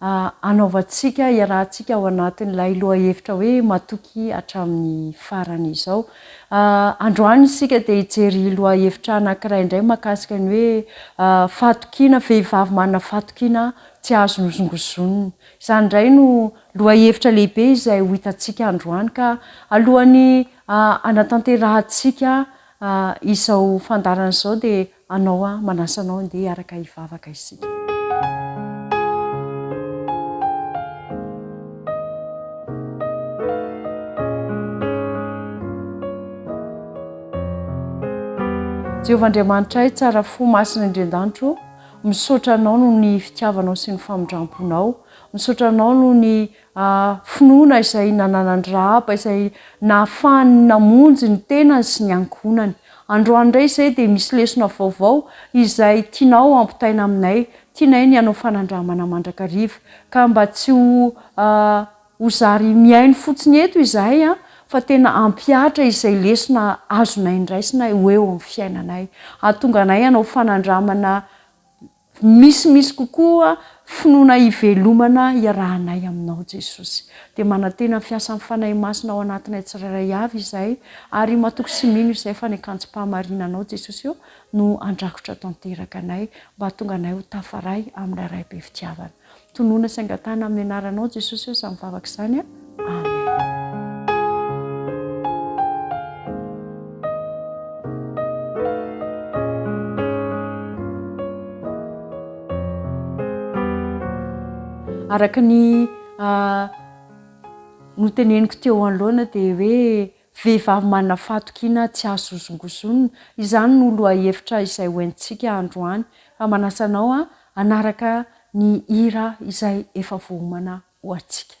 Anaovantsika, iarahantsika ao anatin'ilay lohahevitra hoe matoky hatramin'ny farany izao. Androany isika dia hijery lohahevitra anankiray indray mahakasika ny hoe fahatokiana, vehivavy manana fahatokiana tsy azo nozongozonina. Izany indray no lohahevitra lehibe izay ho hitantsika androany ka alohan'ny hanatanterahantsika izao fandaharana izao dia Anao aho manasa anao andeha hiaraka hivavaka isika. Jehovah Andriamanitray, tsara fo, masina indrian-danitro, misaotra Anao noho ny fitiavanao sy ny famindram-ponao, misaotra Anao noho ny a finoana izay nananan'i Rahaba izay nahafahany namonjy ny tenany sy ny ankohonany. Androany indray izay dia misy lesona vaovao izay tianao hampitaina aminay, tianay ny hanao fanandramana mandrakariva. Ka mba tsy ho a ho zary mihaino fotsiny eto izahay a fa tena hampihatra izay lesona azonay ndraisina ho eo amin'ny fiainanay. Hahatonga anay hanao fanandramana. Misimisy kokoa finoana hivelomana iarahanay Aminao Jesosy. Dia manantena ny fiasan'ny Fanahy Masina ao anatinay tsirairay avy izahay, ary matoky sy mino izahay fa ny akanjom-pahamarinanao Jesosy ô no handrakotra tanteraka anay mba hahatonga anay ho tafaray amin'ilay Ray be fitiavana. Tonona sy angatahana amin'ny anaranao Jesosy aho samy vavaka izany a! Araka ny noteneniko teo anoloana dia hoe Vehivavy manana fahatokiana tsy azo hozongozonina. Izany no lohahevitra izay ho entintsika androany ka manasa anao hanaraka ny hira izay efa voaomana ho antsika.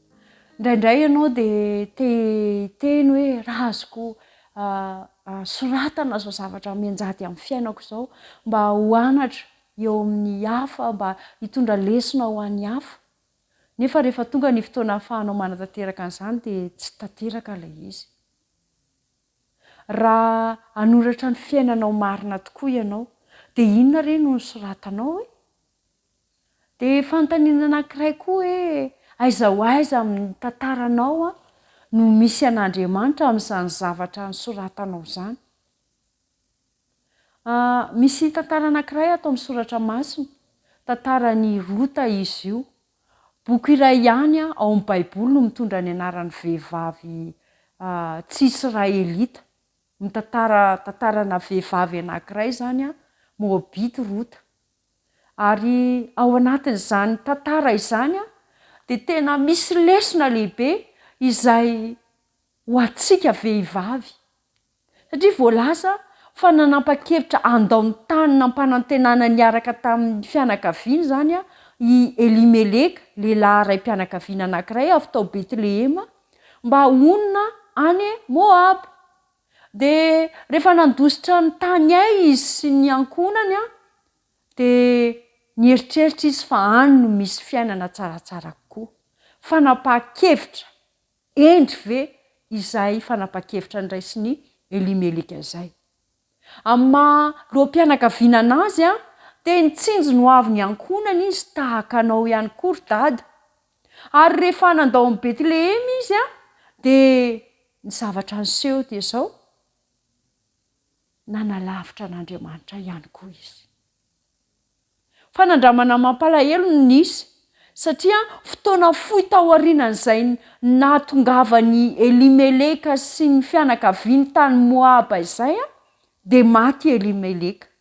Indraindray ianao dia te hiteny hoe raha azoko soratana izao zavatra mianjady amin'ny fiainako izao mba ho anatra eo amin'ny hafa, mba hitondra lesona ho an'ny hafa. Nefa rehefa tonga ny fotoana ahafahanao manatanteraka an'izany dia tsy tanteraka ilay izy. Raha hanoratra ny fiainanao marina tokoa ianao, dia inona re no nosoratanao e? Dia fanontaniana anankiray koa hoe, aiza ho aiza amin'ny tantaranao no misy an'Andriamanitra amin'izany zavatra nosoratanao izany? Misy tantara anankiray ato amin'ny soratra masina, tantaran'i Rota izy io. Boky iray ihany ao amin'ny Baiboly no mitondra ny anaran'ny vehivavy tsy israelita. Mitantara tantarana vehivavy anankiray izany Moabita i Rota. Ary ao anatin'izany tantara izany dia tena misy lesona lehibe izay ho antsika vehivavy. Satria voalaza fa nanapa-kevitra handao ny tany nampanantenana niaraka tamin'ny fianakaviany izany i Elimeleka, lehilahy raim-pianakaviana anankiray avy tao Betlehema, mba honina any Moaba. Dia rehefa nandositra ny tany ay izy sy ny ankohonany, dia nieritreritra izy fa any no misy fiainana tsaratsara kokoa. Fanapahan-kevitra hendry ve izay fanapahan-kevitra niraisn' i Elimeleka izay? Amin'ny maha loham-pianakaviana anazy, dia nitsinjo ny hoavin'ny ankohonany izy tahaka anao ihany koa ry dada, Ary rehefa nandao an'i Betlehema izy, dia ny zavatra niseho dia izao, nanalavitra an'Andriamanitra ihany koa izy. Fanandramana mampalahelo no nisy, satria fotoana fohy taorianan'izay nahatongavan'i Elimeleka sy ny fianakaviany tany Moaba izay, dia maty i Elimeleka.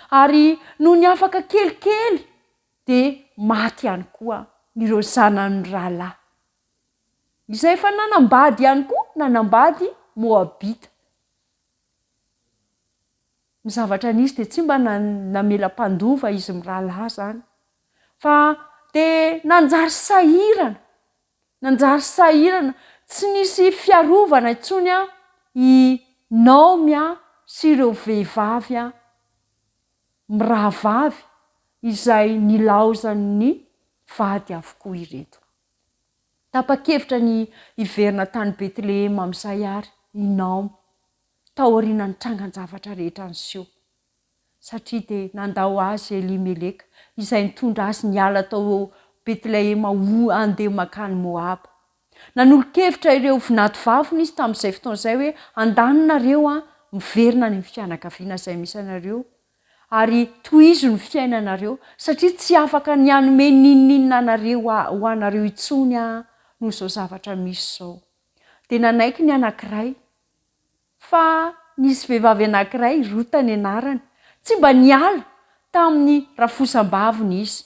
Ary nony afaka kelikely dia maty ihany koa ireo zanany rahalahy, izay efa nanambady ihany koa, nanambady Moabita. Ny zavatra nisy dia tsy mba na- namela mpandova izy mirahalahy izany, fa dia nanjary sahirana, nanjary sahirana, tsy nisy fiarovana intsony i Naomy sy ireo vehivavy. mirahavavy izay nilaozan'ny vady avokoa ireto. Tapa-kevitra ny hiverina tany Betlehema amin'izay àry i Naomy, taorian'ny trangan-javatra rehetra niseho, satria dia nandà ho azy i Elimeleka, izay nitondra azy niala tao Betlehema ho handeha mankany Moaba. Nanolo-kevitra ireo vinantovaviny izy tamin'izay fotoana izay hoe, Handany nareo aho, miverina any amin'ny fianakaviana izay misy anareo, ary tohizo ny fiainanareo, satria tsy afaka ny hanome n'inon'inona anareo ho anareo intsony aho noho izao zavatra misy izao. Dia nanaiky ny anankiray. Fa nisy vehivavy anankiray, Rota ny anarany, tsy mba niala tamin'ny rafosam-baviny izy.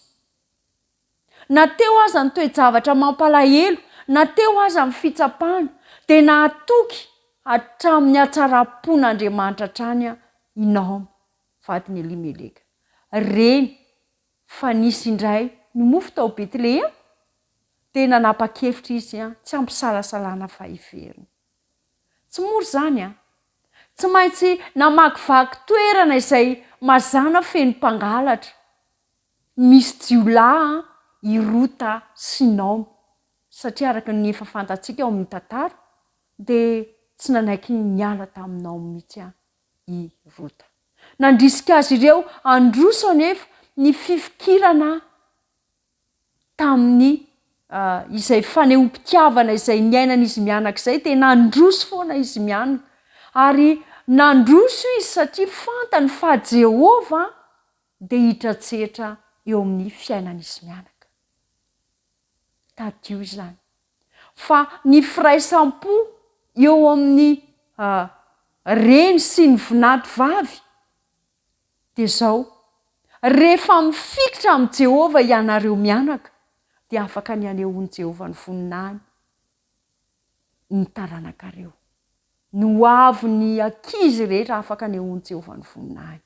Na teo aza ny toe-javatra mampalahelo, na teo aza ny fitsapana, dia nahatoky hatramin'ny hatsaram-pon'Andriamanitra hatrany i Naomy, vadin'i Elimeleka. Reny fa nisy indray nimofo tao Betlehema, dia nanapa-kevitra izy tsy hampisalasalana fa hiverina. Tsy mora izany an! Tsy maintsy namakivaky toerana izay mazàna feno mpangalatra. Misy jiolahy an, i Rota sy Naomy, satria araka ny efa fantatsika ao amin'ny tantara dia tsy nanaiky niala tamin'i Naomy mihitsy an, i Rota. Nandrisika azy ireo handroso anefa ny fifikirana tamin'ny izay fanehoam-pitiavana izay niainan'izy mianaka izay, dia nandroso foana izy mianaka. Ary nandroso izy satria fantany fa Jehovah dia hitratsetra eo amin'ny fiainan'izy mianaka. Tadidio izany fa ny firaisam-po eo amin'ny reny sy ny vinanto vavy dia izao, rehefa mifikitra amin'i Jehovah ianareo mianaka, dia afaka ny hanehoan'i Jehovah ny voninahiny ny taranakareo, ny ho avy ny ankizy rehetra afaka anehoan'i Jehovah ny voninahiny.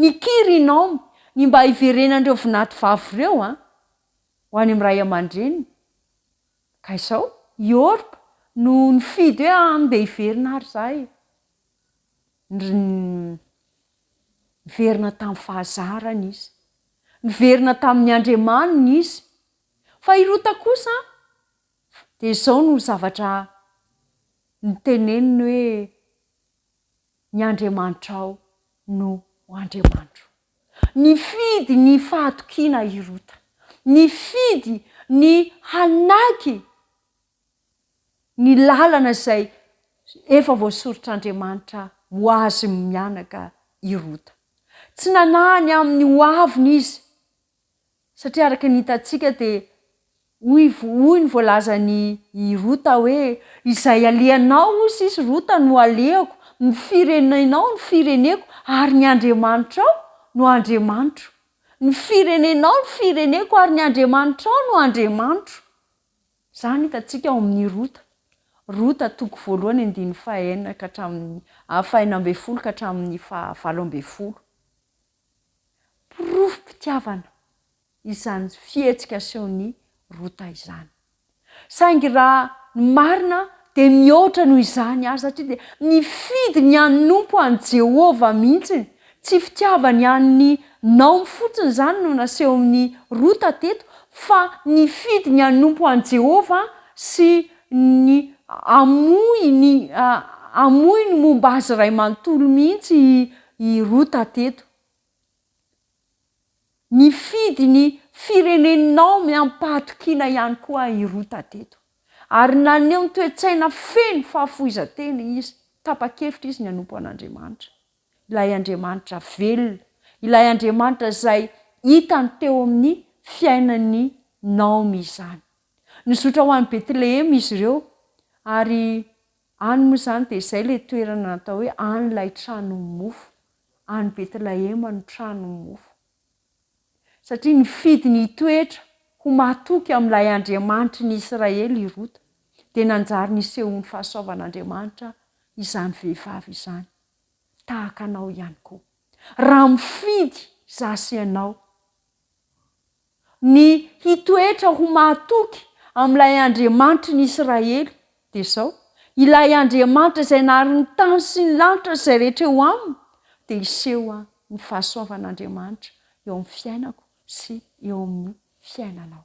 Nikiry i Naomy ny mba hiverenan'ireo vinatovavy ireo ho any amin'ny ray aman-dreniny, ka izao i Orpa no nifidy hoe, Andeha hiverina àry izahay. Niverina tamin'ny fahazarany izy, niverina tamin'ny Andriamaniny izy. Fa i Rota kosa? Dia izao no zavatra niteneniny hoe, Ny Andriamanitrao no ho Andriamanitro. Nifidy ny fahatokiana i Rota. Nifidy ny hanaky ny lalana izay efa voasoritr'Andriamanitra ho azy mianaka i Rota. Tsy nanahany amin'ny hoaviny izy. Satria araka ny hitantsika dia hoy hoy ny voalazan'i i Rota hoe, Izay alehanao, hoy sisy, Rota, no alehako, ny firenenao no fireneko ary ny Andriamanitrao no Andriamanitro. Ny firenenao no fireneko ary ny Andriamanitrao no Andriamanitro. Izany hitantsika ao amin'ny Rota. Rota toko voalohany andininy fahaenina ka hatramin'ny fahenina ambin'ny folo ka hatramin'ny fahavalo ambin'ny folo. porofom-pitiavana izany fihetsika asehon'i Rota izany. Saingy raha ny marina, dia mihoatra noho izany àry, satria dia nifidy ny hanompo an'i Jehovah mihitsy. Tsy fitiavany an'i Naomy fotsiny izany no nasehon'i Rota teto, fa nifidy ny hanompo an'i Jehovah sy ny hamoy ny momba azy iray manontolo mihitsy i I Rota teto. Nifidy ny firenenao miam-pahatokiana ihany koa i Rota teto, ary naneho ny toe-tsaina feno fahafoizan-tena izy, tapa-kevitra izy ny hanompo an'Andriamanitra, ilay Andriamanitra velona, ilay Andriamanitra izay hitany teo amin'ny fiainan'i Naomy izany. Nizotra ho any Betlehema izy ireo, ary Any moa izany dia izay ilay toerana natao hoe any ilay tranon'ny mofo, any Betlahema no tranon'ny mofo. Satria nifidy ny hitoetra ho mahatoky amin'ilay Andriamanitry ny Israely i Rota, dia nanjary nisehoan'ny fahasoavan'Andriamanitra izany vehivavy izany. Tahaka anao ihany koa. Raha mifidy izaho sy ianao, ny hitoetra ho mahatoky amin'ilay Andriamanitry ny Israely, dia izao, Ilay Andriamanitra izay nahary ny tany sy ny lanitra sy izay rehetra eo aminy, dia hiseho ny fahasoavan'Andriamanitra eo amin'ny fiainako sy eo amin'ny fiainanao.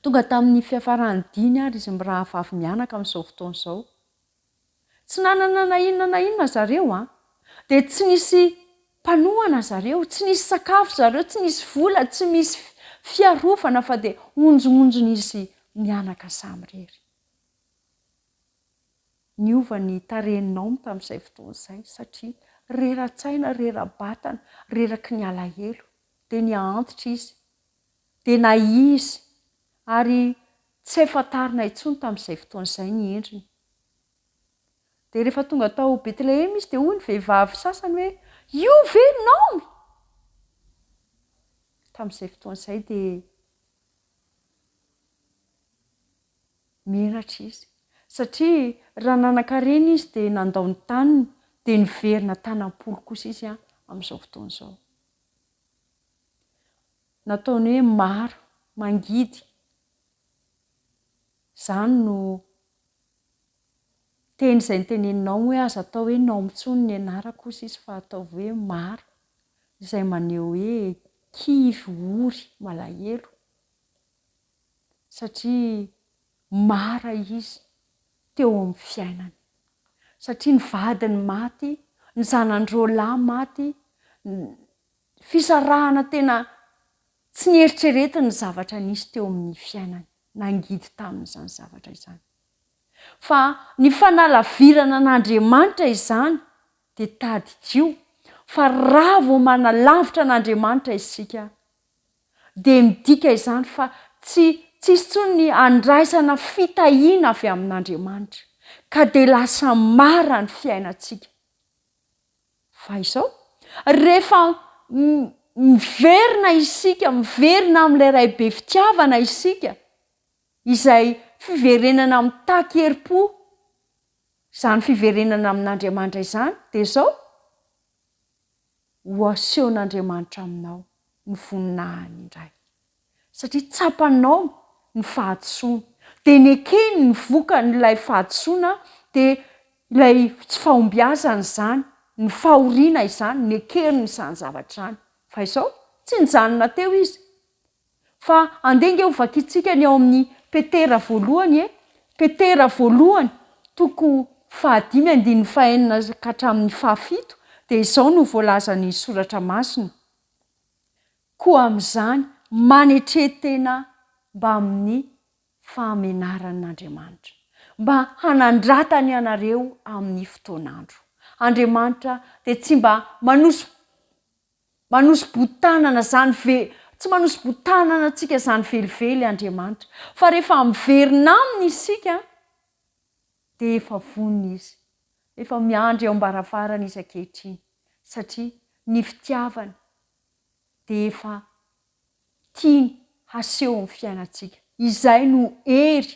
Tonga tamin'ny fiafaran'ny diny àry izy mirahavavy mianaka amin'izao fotoana izao. Tsy nanana na inona na inona zareo an! Dia tsy nisy mpanohana zareo, tsy nisy sakafo zareo, tsy nisy vola, tsy misy fiarovana fa dia onjongonjon'izy mianaka samirery. Niova ny tarehin'i Aum tamin'izay fotoana izay satria rera-tsaina, rera-batana, reraky ny alahelo. Dia nihaantitra izy. dia na izy, ary tsy hay fantarina intsony tamin'izay fotoana izay ny endriny. Dia rehefa tonga tao Betlehema izy dia hoy ny vehivavy sasany hoe, Io ve i Naomy? Tamin'izay fotoana izay dia menatra izy, satria raha nanan-karena izy dia nandao ny taniny, dia niverina tany am-polo kosa izy amin'izao fotoana izao. nataony hoe maro, mangidy, izany no teny izay noteneninao hoe aza atao hoe nao intsony ny anarako hoy sisa fa ataovy hoe maro, izay maneho hoe kivy, ory, malahelo, satria mara izy teo amin'ny fiainany, satria ny vadiny maty, ny zanany roa lahy maty, Fisarahana tena tsy nieritreretiny ny zavatra nisy teo amin'ny fiainany. Nangidy taminy izany zavatra izany. Fa ny fanalavirana an'Andriamanitra izany dia tadidio fa raha vao manalavitra an'Andriamanitra isika dia midika izany fa tsy tsisy intsony ny handraisana fitahiana avy amin'Andriamanitra ka dia lasa mara ny fiainantsika. Fa izao, rehefa miverina isika, miverina amin'ilay Ray be fitiavana isika, izay fiverenana mitaky herim-po, izany fiverenana amin'Andriamanitra izany, dia izao, Ho asehon'Andriamanitra aminao ny voninahiny indray. satria tsapanao ny fahadisoany, dia nekeny ny vokan'ilay fahadisoana, dia ilay tsy fahombiazana izany, ny fahoriana izany, nekeriny izany zavatra izany. Fa izao, tsy nijanona teo izy. Fa andeha ange ho vakintsika ny ao amin'ny Petera voalohany e! Petera voalohany, toko fahadimy andininy fahenina ka hatramin'ny fahafito, dia izao no voalazan'ny Soratra Masina, Koa amin'izany, manetre-tena mbamin'ny fahamenaran'Andriamanitra, mba hanandratany anareo amin'ny fotoan'andro. Andriamanitra dia tsy mba manosi manosi-botanana izany ve tsy manosi-botanana antsika izany velively Andriamanitra, fa rehefa miverina Aminy isika, dia efa vonona Izy, efa miandry eo am-baravarana Izy ankehitriny, satria ny fitiavany dia efa tiany haseho amin'ny fiainantsika. Izay no hery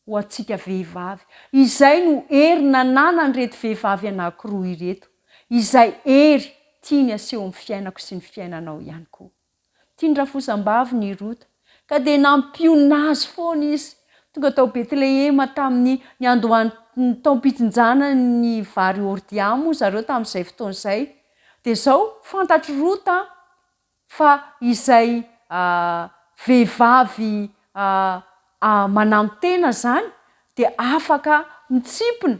ho antsika vehivavy. Izay no hery nananan'ireto vehivavy anankiroa ireto. Izay hery tiany haseho amin'ny fiainako sy ny fiainanao ihany koa. Tian'ny rafozambaviny i Rota, ka dia nampionona azy foana izy. Tonga tao Betlehema tamin'ny niandohan'ny taom-pitsinjana ny vary Ordia moa zareo tamin'izay fotoana izay, Dia izao, fantatr'i Rota fa izay vehivavy manantena izany dia afaka mitsimpona,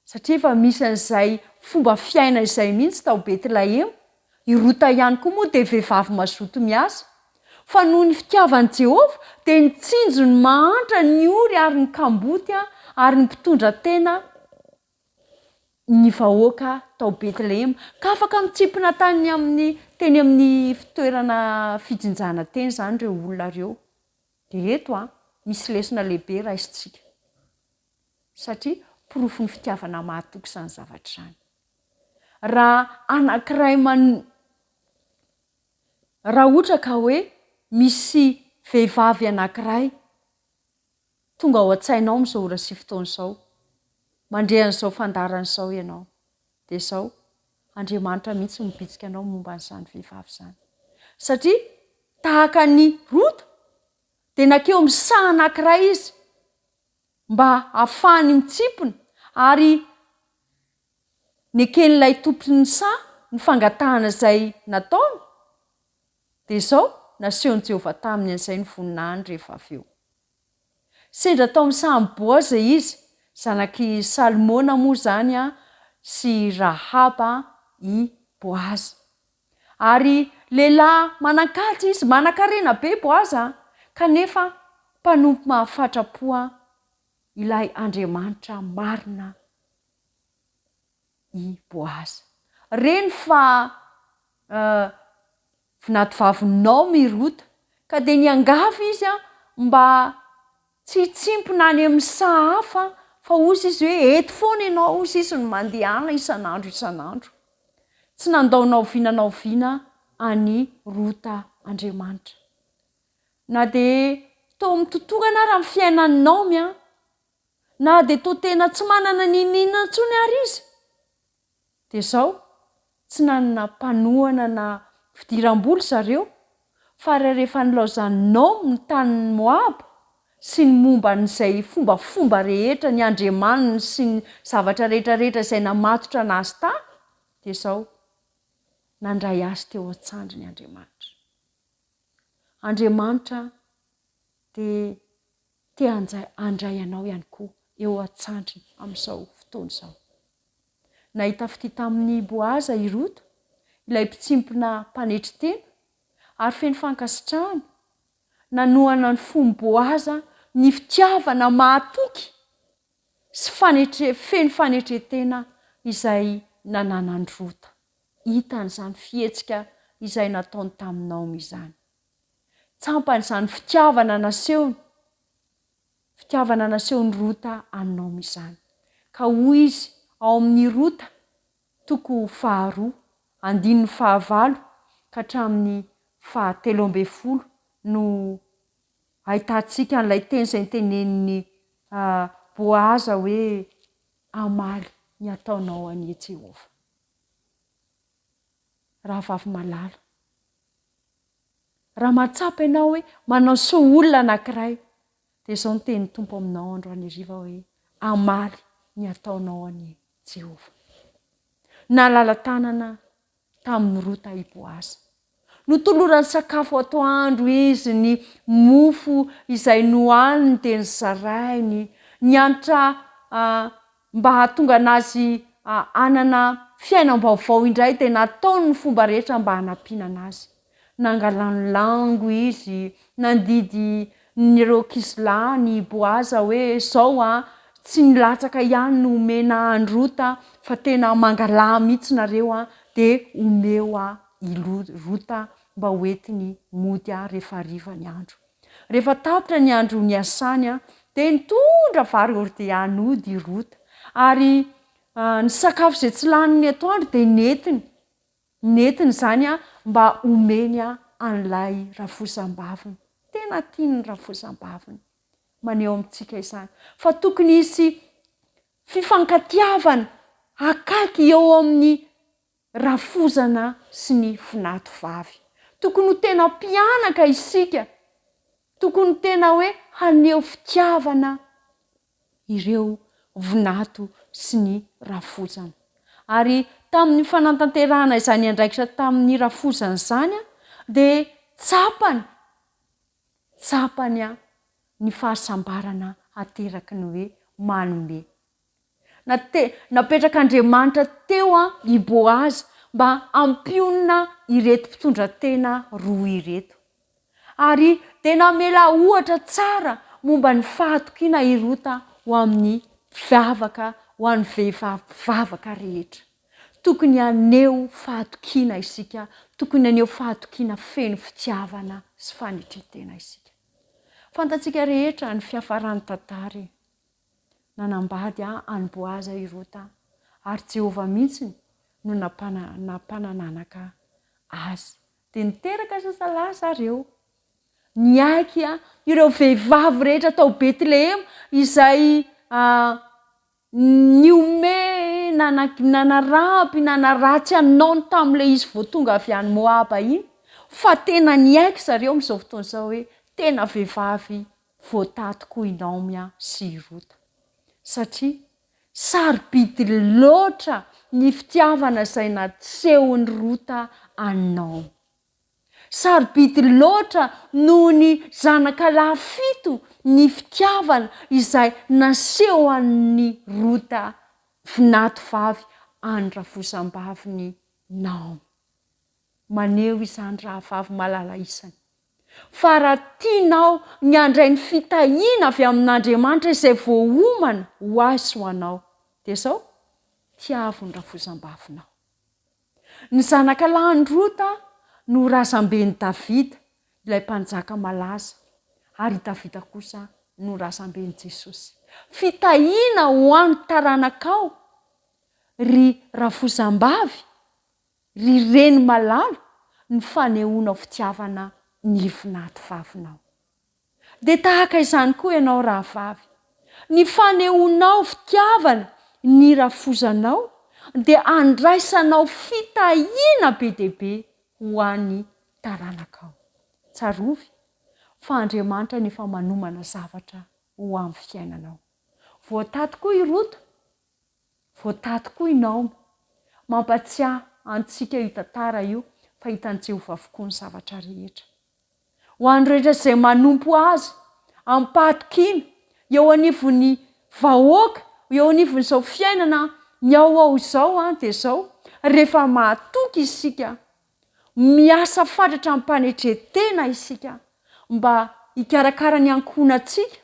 satria efa misy an'izay fomba fiaina izay mihitsy tao Betlahema. I Rota ihany koa moa dia vehivavy mazoto miasa. Fa noho ny fitiavan'i Jehovah, dia nitsinjo ny mahantra, ny ory ary ny kamboty, ary ny mpitondra tena. ny vahoaka tao Betlehema, ka afaka mitsimpona tany amin'ny, teny amin'ny fitoerana fijinjana teny izany ireo olona ireo. Dia eto an, misy lesona lehibe raisintsika. Satria porofon'ny fitiavana mahatoky izany zavatra izany. Raha anankiray man- raha ohatra ka hoe misy vehivavy anankiray, Tonga ao an-tsainao amin'izao ora sy fotoana izao, mandre an'izao fandaharana izao ianao, dia izao, Andriamanitra mihitsy no mibitsika anao momba an'izany vehivavy izany. Satria, tahaka an'i Rota, dia nankeo amin'ny saha anankiray izy, mba hahafahany mitsimpona, ary neken'ilay tompon'ny saha ny fangatahana izay nataony, Dia izao, nasehon'i Jehovah taminy an'izay ny voninahiny rehefa avy eo. Sendra tao amin'ny sahan'i Boaza izy, zanak'i Salmona moa izany sy Rahaba i Boaza. Ary lehilahy manan-kaja izy, manan-karena be Boaza, kanefa mpanompo mahafatra-po ilay Andriamanitra marina. i Boaza. Reny fa vinadivavin'i Naomy i Rota, ka dia niangavy izy mba tsy hitsimpona any amin'ny saha hafa, fa hozy izy hoe, Eto foana ianao, hozy izy, no mandehana isan'andro isan'andro. Tsy nandao na oviana na oviana an'i Rota Andriamanitra. Na dia tao amin'ny totohana ary amin'ny fiainan'i Naomy na dia toa tena tsy manana n'inon'inona intsony ary izy, dia izao, tsy nanana mpanohana na fidiram-bola zareo, fa rehefa nilaozan'i Nahom ny tanin'i Moaba sy ny momba an'izay fombafomba rehetra, ny andriamaniny sy ny zavatra rehetrarehetra izay namatotra an'azy tany, dia izao, nandray azy teo an-tsandriny Andriamanitra. Andriamanitra dia te handray anao ihany koa eo an-tsandriny amin'izao fotoana izao. Nahita fitia tamin'i Boaza i Rota, ilay mpitsimpona mpanetry tena, ary feno fankasitrahana, nanohana ny fon'i Boaza ny fitiavana mahatoky sy feno fanetren-tena izay nananan'i Rota. Hitany izany fihetsika izay nataony tamin'i Naomy izany. Tsampan'izany fitiavana nasehony, fitiavana nasehon'i Rota an'i Naomy izany. Ka hoy izy ao amin'ny Rota toko faharoa, andininy fahavalo ka hatramin'ny fahatelo ambin'ny folo no ahitantsika an'ilay teny izay notenenin'i Boaza hoe, Hamaly ny ataonao anie Jehovah. Rahavavy malala. Raha mahatsapa ianao hoe manao soa olona anankiray, dia izao no tenin'ny Tompo aminao andro anheriva hoe, Hamaly ny ataonao anie Jehovah. Nalala tanana tamin'i Rota i Boaza. Notolorany sakafo atoandro izy, ny mofo izay nohaniny dia nozarainy. Niantra Mba hahatonga anazy hanana fiainam-baovao indray dia nataony ny fomba rehetra mba hanampiana anazy. Nangalany lango izy, nandidy nireo kizilahin' i Boaza hoe, Izao an, tsy ny latsaka ihany no omena an' Rota fa tena mangalaha mihitsy nareo an, dia omeo ahy i Rota mba hoentiny mody ahy rehefa hariva ny andro. Rehefa tapitra ny andro niasany, dia nitondra vary hordea nody i Rota, ary ny sakafo izay tsy lany ny atoandro dia nentiny, nentiny izany mba homeny an'ilay rafozambaviny. Tena tian'ny rafozambaviny. Maneho amintsika izany fa tokony hisy fifankatiavana akaiky eo amin'ny rafozana sy ny fnato vavy. Tokony ho tena mpianaka isika, tokony tena hoe haneho fitiavana ireo vnato sy ny rafozana. Ary tamin'ny fanantanterahana izany andraikitra tamin'ny rafozana izany dia tsapany, tsapany ny fahasambarana ateraky ny hoe manome. Na te, napetrak'Andriamanitra teo an i Boaza mba hampionona ireto mpitondra tena roa ireto. Ary dia namela ohatra tsara momba ny fahatokiana i Rota ho amin'ny mpivavaka, ho an'ny vehivavy mpivavaka rehetra. Tokony haneho fahatokiana isika, tokony haneho fahatokiana feno fitiavana sy fanetren-tena isika. Fantatsika rehetra ny fiafaran'ny tantara e. nanambady an'i Boaza i Rota, ary Jehovah mihitsy no nampanananaka azy. Dia niteraka zazalahy zareo. Niaiky ireo vehivavy rehetra tao Betlehema izay nihomehy nanaraby nanaratsy an'i Naona tamin'ilay izy vao tonga avy any Moaba iny, fa tena niaiky zareo amin'izao fotoana izao hoe tena vehivavy Voataty koa i Naomia sy i Rota, satria sarobidy loatra ny fitiavana izay nasehon'i Rota an'i Naomy. Sarobidy loatra noho ny zanaka lahy fito ny fitiavana izay nasehon'i Rota vinatovavy an'ny rafozambavin'i Naomy. Maneho izany rahavavy malala isany Fa raha tianao ny handray ny fitahiana avy amin'Andriamanitra izay voaomana ho ahy sy ho anao, dia izao, tiavo ny rafozambavinao. Ny zanaka lahin'i Rota no razamben'i Davida, ilay mpanjaka malaza, ary i Davida kosa no razamben'i Jesosy. Fitahiana ho an'ny taranakao, ry rafozambavy! Ry reny malala ny fanehoanao fitiavana ny ivonaty vavinao. Dia tahaka izany koa ianao rahavavy, ny fanehoanao fitiavana ny rafozanao dia andraisanao fitahiana be dia be ho an'ny taranakao. Tsarovy fa Andriamanitra no efa manomana zavatra ho amin'ny fiainanao. Voataty koa i Rota. Voataha tokoa i Naomy. Mampatsiahy antsika io tantara io fa hitan'i Jehovah avokoa ny zavatra rehetra. Ho an'ny rehetra izay manompo azy amim-pahatokiana, eo anivon'ny vahoaka, eo anivon'izao fiainana mihaohao izao, dia izao, Rehefa mahatoky isika, miasa fatratra amim-panetren-tena isika mba hikarakara ny ankohonantsika,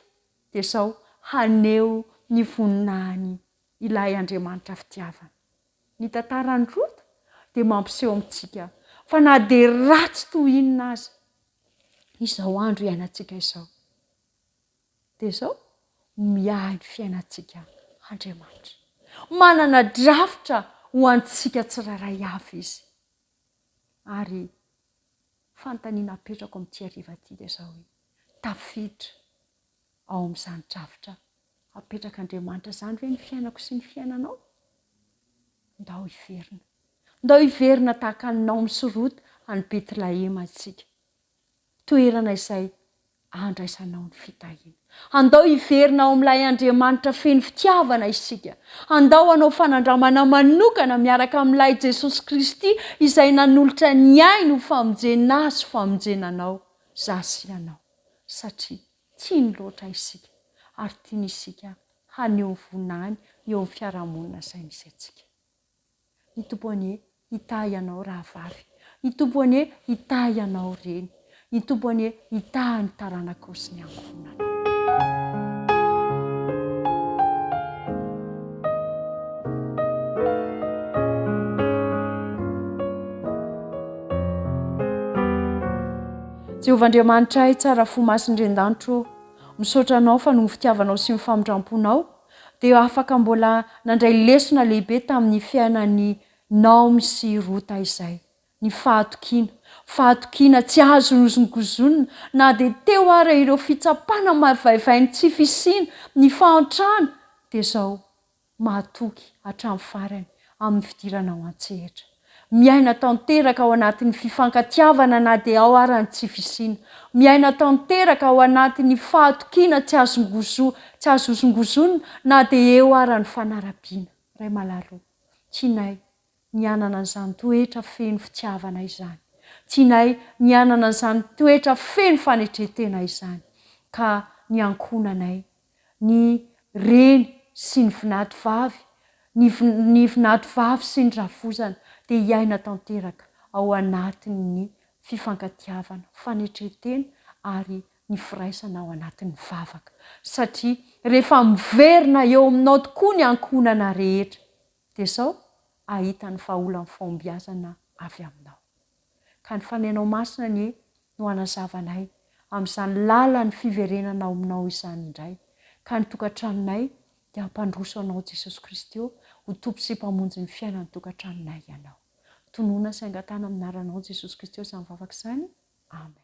Dia izao, haneho ny voninahiny ilay Andriamanitra fitiavana. Ny tantaran'i Rota dia mampiseho amintsika fa na dia ratsy toy inona aza izao andro iainantsika izao, dia izao, miahy ny fiainantsika Andriamanitra. Manana drafitra ho antsika tsirairay avy Izy. Ary Fanontaniana apetrako amin'ity hariva ity dia izao hoe, tafiditra ao amin'izany drafitra apetrak'Andriamanitra izany ve ny fiainako sy ny fiainanao? Ndao hiverina. Ndao hiverina tahaka an'i Naomy sy Rota any Betlahema isika. Toerana izay andraisanao ny fitahiana. Andao hiverina ao amin'ilay Andriamanitra feno fitiavana isika. Andao hanao fanandramana manokana miaraka amin'ilay Jesosy Kristy izay nanolotra ny ainy ho famonjena ahy sy famonjena anao, za sy ianao. Satria tiany loatra isika ary tiany isika haneho vonany eo amin'ny fiarahamonina izay misy antsika. Ny Tompo anie hitahy anao rahavavy. Ny Tompo anie hitahy anao reny. Ny Tompo anie hitahy ny taranakao sy ny ankohonanao. Jehovah Andriamanitray, tsara fo masin'ny ren-danitro ô, misaotra anao fa noho ny fitiavanao sy ny famindram-ponao, dia afaka mbola nandray lesona lehibe tamin'ny fiainan'i Naomy sy Rota izay, ny fahatokiana. Fahatokiana tsy azo nohozongozonina, na dia teo ara ireo fitsapana maivaivay ny tsy fisiana, ny fahantrana, dia izao, mahatoky hatramin'ny farany, amin'ny fidirana ao an-tsehatra. Miaina tanteraka ao anatin'ny fifankatiavana na dia ao ara ny tsy fisiana. Miaina tanteraka ao anatin'ny fahatokiana tsy azongozo, tsy azo hozongozona na dia eo ara ny fanarabiana. Ray Malalo, tianay ny hanana an'izany toetra feno fitiavana izany. Tianay ny hanana an'izany toetra feno fanetren-tena izany. Ka ny ankohonanay ny reny sy ny vinatovavy, ny ny vinatovavy sy ny rafozana dia hiaina tanteraka ao anatin'ny fifankatiavana, fanetren-tena ary ny firaisana ao anatin'ny vavaka. Satria rehefa miverina eo aminao tokoa ny ankohonana rehetra dia sao ahita ny vahaolan'ny fahombiazana avy aminao. Ka ny fanenao masina anie no hanazavanay amin'izany lalan'ny fiverenana ao aminao izany indray, ka ny tokantranonay dia hampandroso anao Jesosy Kristy ô, ho Tompo sy Mpamonjy ny fiainan'ny tokantranonay ianao. Tonona sy angatahana amin'ny anaranao Jesosy Kristy ô izany vavaka izany. Amen.